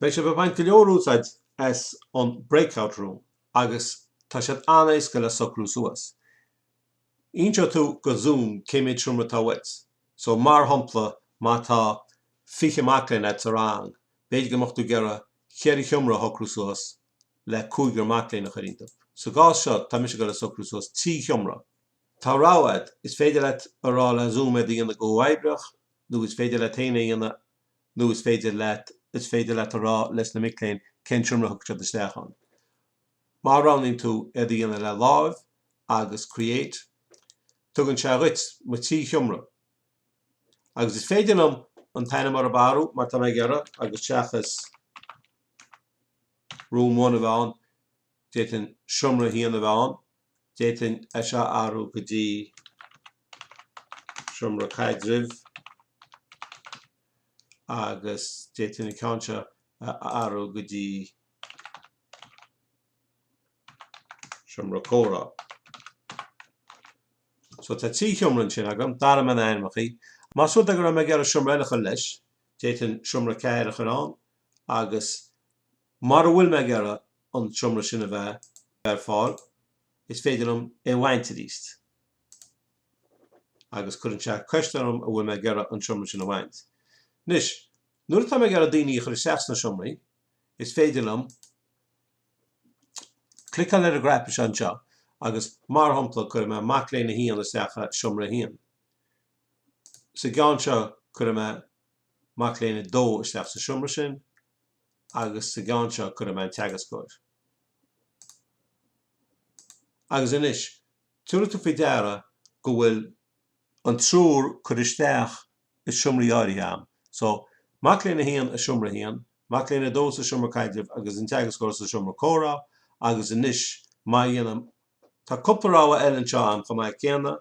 Beidh sibh ag baint go leor úsáid as an breakout room agus tá sé an-éasca le socrú suas. Inseoidh tú do Zoom cé méid seomra atá uait. So mar shompla má tá 20 mac léinn agat sa rang, b'fhéidir go mbeadh tú ag iarraidh 4 sheomra a shocrú suas le cúigear mac léinn a chur iontu. Sa gcás seo tá mise ag dul ag socrú suas 3 sheomra. Tá rogha agat, is féidir leat a rá le Zoom iad a dhéanamh go huathoibreach nó is féidir leat féin é a dhéanamh. nó is féidir leat, is féidir leat a rá leis na mic léinn cén seomra a thiocfaidh siad isteach ann. Má roghnaíonn tú iad a dhéanamh le láimh agus create, tugann sé dhuit mo thrí sheomra. Agus is féidir liom an t-ainm orthu a athrú mar tá mé ag iarraidh, agus seachas Room One a bheith ann, d'fhéadfainn Seomra a hAon a bheith ann. d'fhéadfainn é seo a athrú go dtí Seomra Caidrimh agus d'fhéadfainn an ceann seo a athrú go dtí Seomra Comhrá. So tá trí sheomra ansin agam, d'athraigh mé na hainmneachaí. Más rud é go raibh mé ag iarraidh seomra eile a chur leis, d'fhéadfainn Seomra 4 a chur ann agus mara bhfuil mé ag iarraidh an seomra sin a bheith ar fáil, is féidir liom é a bhaint aríst. Agus cuireann sé ceist orm an bhfuil mé ag iarraidh an seomra sin a bhaint. Anois, nuair atá mé ag iarraidh daoine a chur isteach sna seomraí, is féidir liom cliceáil ar an gcnaipe seo anseo agus mar shompla cuirfidh mé mac léinn 1 isteach i seomra 1. Sa gceann seo cuirfidh mé mac léinn 2 isteach sa seomra sin agus sa gceann seo cuirfidh mé an teagascóir. Agus anois, tabharfaidh tú faoi deara go bhfuil an triúr curtha isteach i seomraí áirithe a'm. So, mac léinn a haon i seomra a haon, mac léinn a dó sa seomra caidrimh agus an teagascóir sa seomra comhrá agus anois, má dhéanaim, tá cúpla rogha eile anseo a'm chomh maith céanna,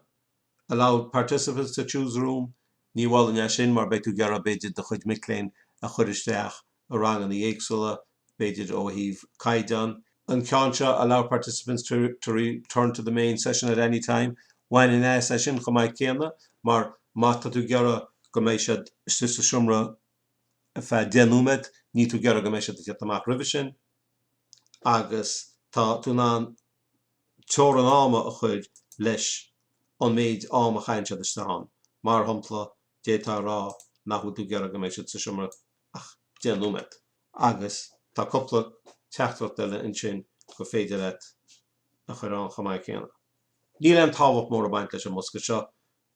Allow participants to choose room, Ní mholfainn é sin mar beidh tú ag iarraidh b'fhéidir do chuid mic léinn a chur isteach i ranganna éagsúla b'fhéidir ó thaobh caighdeán an ceann seo allow participants to return to the main session at any time, Bhainfinn as é sin chomh maith céanna mar má tá tú ag iarraidh go mbeidh siad sa seomra ar feadh deich nóiméad níl tú ag iarraidh go mbeidh siad ag teacht amach roimhe sin agus tá tú in ann teorann ama a chuir leis an méid am a chaitheann siad isteach ann. Mar shompla, d'fhéadfá a rá nach bhfuil tú ag iarraidh go mbeidh siad sa seomra ach deich nóiméad. Agus tá cúpla teachtaireacht eile ansin gur féidir leat a chuir ann chomh maith céanna. Níl aon tábhacht mór ag baint leis an mbosca seo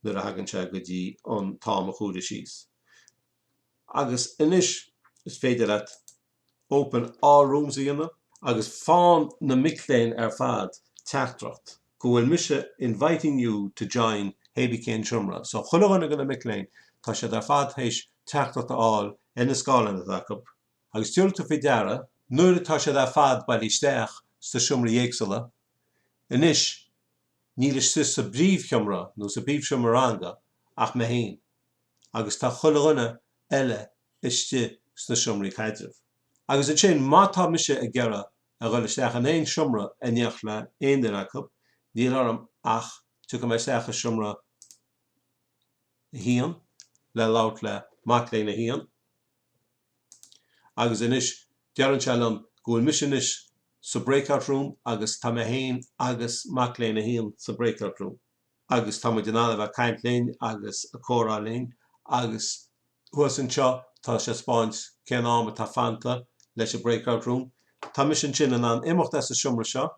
nuair a thagann sé go dtí an t-am a chomhaireamh síos. Agus anois is féidir leat open all rooms a dhéanamh agus faigheann na mic léinn ar fad teachtaireacht go bhfuil mise inviting you to join hé bith cén seomra so chuile dhuine de na mic léinn tá siad ar fad théis teachtaireacht a fháil ar na scáileáin atá acu agus tabharfaidh tú faoi deara nuair atá siad ar fad bailithe isteach sna seomraí éagsúla anois níl istigh sa bpríomhsheomra nó sa bpríomhsheomra ranga ach mé féin agus tá chuile dhuine eile istigh sna seomraí caidrimh. Agus ansin, má tá mise ag iarraidh a dhul isteach in aon seomra i n-éineacht le aon duine acu, níl orm ach tiocfaidh mé isteach i seomra a haon le labhairt le mac léinn a haon agus anois deireann sé liom go bhfuil mise anois sa breakout room agus tá mé héin agus mac léinn a haon sa breakout room. agus tá muid in ann a bheith ag caint linn agus ag comhrá linn agus thuas anseo tá sé ag 'speáint cén am atá fanta leis an breakout room. Tá mise ansin in ann imeacht as an seomra seo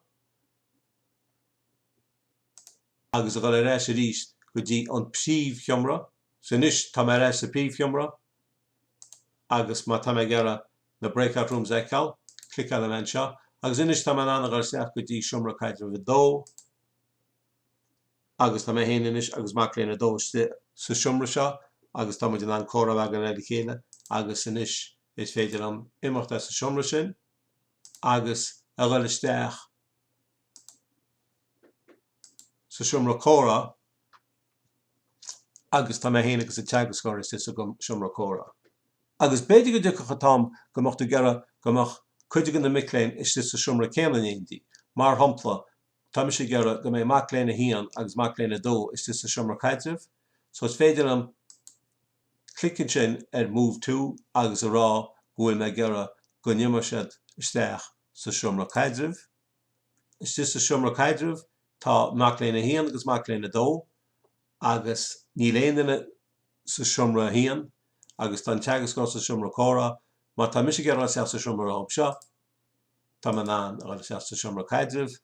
agus a dhul ar ais arís go dtí an príomhsheomra. So anois tá mé ar ais sa bpríomhsheomra agus má tá mé ag iarraidh na breakout rooms a fheiceáil, cliceálfaidh mé anseo agus anois tá mé in ann a dhul isteach go dtí seomra caidrimh a dó. agus tá mé féin anois agus mac léinn 2 istigh sa seomra seo agus tá muid in ann comhrá a bheith againn le chéile agus anois is féidir liom imeacht as an seomra sin agus a dhul isteach sa seomra comhrá agus tá mé féin agus an teagascóir istigh sa seomra comhrá. Agus b'fhéidir go dtiocfadh an t-am go mbeadh tú ag iarraidh go mbeadh cuid de na mic léinn istigh sa seomra céanna in éindí, mar shampla, Tá mise ag iarraidh go mbeidh mac léinn a haon agus mac léinn a dó istigh sa seomra caidrimh so is féidir liom clic ansin ar move to agus a rá go bhfuil mé ag iarraidh go n-imeoidh siad isteach sa seomra caidrimh. Istigh sa seomra caidrimh tá mac léinn a haon agus mac léinn a dó agus níl aon duine sa seomra a haon agus tá an teagascóir sa seomra comhrá má tá mise ag iarraidh dul isteach sa seomra leob seo. tá mé in ann a dhul isteach sa seomra caidrimh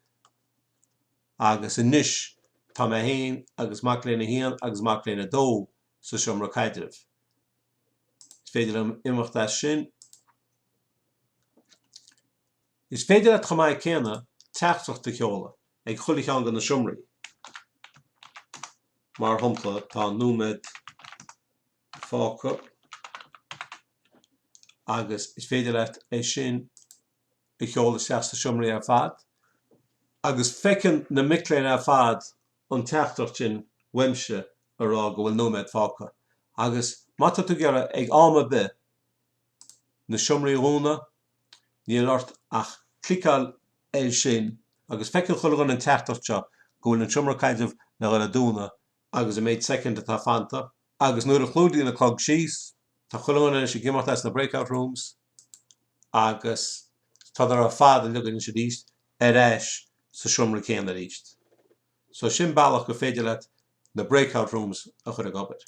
agus anois tá mé féin agus mac léinn a haon agus mac léinn a dó sa seomra caidrimh. Is féidir liom imeacht as sin. Is féidir leat chomh maith céanna teachtaireacht a sheoladh ag chuile cheann de na seomraí. Mar shompla, tá nóiméad. fágtha agus is féidir leat é sin a sheoladh isteach sna seomraí ar fad agus feiceann na mic léinn ar fad an teachtaireacht sin uaimse ag rá go bhfuil nóiméad fágtha. Agus má tá tú ag iarraidh ag am ar bith na seomraí a dhúnadh níl ort ach cliceáil air sin agus feiceann chuile dhuine an teachtaireacht seo go bhfuil an seomra caidrimh le dhul ag dúnadh agus an méid soicind atá fanta, agus nuair a chlúdaíonn an clog síos, tá chuile dhuine anois ag imeacht as na break-out rooms agus tádar ar fad uilig anois arís ar ais sa seomra céanna arís. So sin bealach gur féidir leat na break-out rooms a chur ag obair.